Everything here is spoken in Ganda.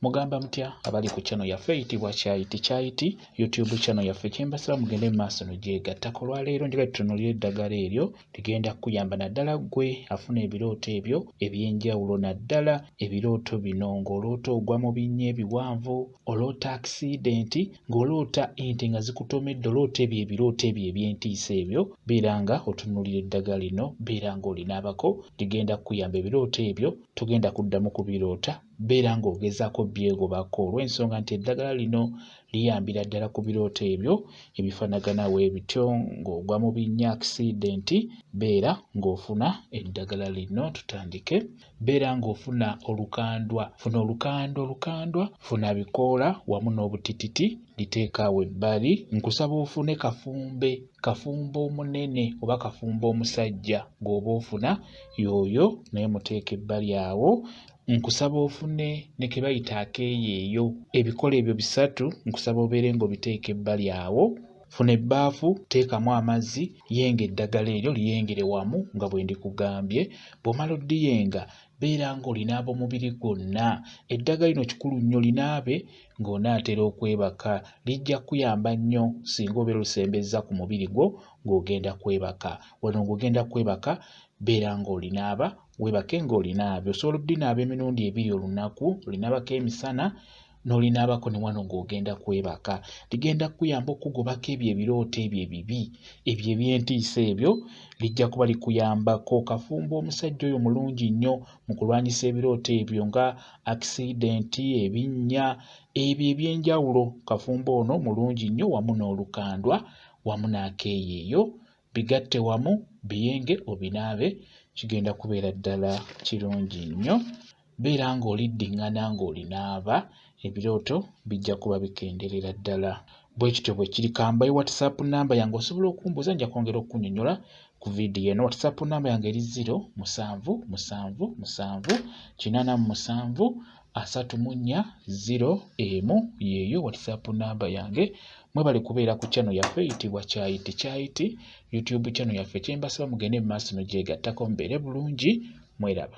mugamba mutya abali ku channel yaffe eyitibwa kyayiti kyayiti youtube channel yaffe kyembasaba mugende mu maaso nogyegattako olwaleero njagala tutunulira eddagala eryo ligenda kukuyamba naddala ggwe afuna ebirooto ebyo ebyenjawulo naddala ebirooto bino ng'oloota ogwa mu binnya ebiwanvu oloota akisidenti ng'oloota ente nga zikutomedde oloota ebyo ebirooto ebyo ebyentiisa ebyo beera nga otunulira eddagala lino beera ng'olinaabako ligenda kukuyamba ebirooto ebyo togenda kuddamu kubiroota beera ng'ogezaako byegobako olw'ensonga nti eddagala lino liyambira ddala ku birooto ebyo ebifanagana webityo ng'ogwa mu binnya akisidenti beera ng'ofuna eddagala lino tutandike beera ng'ofuna olukandwa funa olukandwa olukandwa funa bikoola wamu n'obutititi liteekaawo ebbali nkusaba ofune kafumbe kafumba omunene oba kafumba omusajja gwoba ofuna yooyo naye muteeka ebbali awo nkusaba ofune ne ke bayita akeeyeeyo ebikolo ebyo bisatu nkusaba obeere ng'obiteeka ebbali awo funa ebbaafu teekamu amazzi yenga eddagala eryo liyengere wamu nga bwe ndikugambye bw'omala oddiyenga beera ng'olinaaba omubiri gwonna eddagala lino kikulu nnyo linaabe ng'onaatera okwebaka lijja kukuyamba nnyo singa obeera olisembezza ku mubiri gwo ng'ogenda kwebaka wano ng'ogenda kwebaka beera ng'olinaaba Weebake ng'olinaabye. Osobola obinaaba emirundi ebiri olunaku, olinaabako emisana n'olinaabako ne wano ng'ogenda kwebaka. Ligenda kukuyamba okukugobako ebyo ebirooto ebyo ebibi, ebyo eby'entiisa ebyo, lijja kuba likuyambako. Kafumba omusajja oyo mulungi nnyo mu kulwanyisa ebirooto ebyo nga akisidenti, ebinnya, ebyo eby'enjawulo. Kafumba ono mulungi nnyo wamu n'olukandwa wamu n'akeeyeeyo. bigatte wamu biyenge obinaabe kigenda kubeera ddala kirungi nnyo beera ng'oliddingana ng'olinaaba ebirooto bijja kuba bikenderera ddala bwe kityo bwe kiri kambayi whatsapp namba yange osobola okumbuuza nja kwongera okukunyonyola ku vidiyo eno whatsapp namba yange eri ziro musanvu musanvu musanvu kinaana mu musanvu asatu mu nnya ziro emu yeeyo whatsapp namba yange mwebale kubeera ku chano yaffe eyitibwa kyayiti kyayiti youtube chano yaffe kyembasaba mugende mu maaso nogyegattako mubeere bulungi mweraba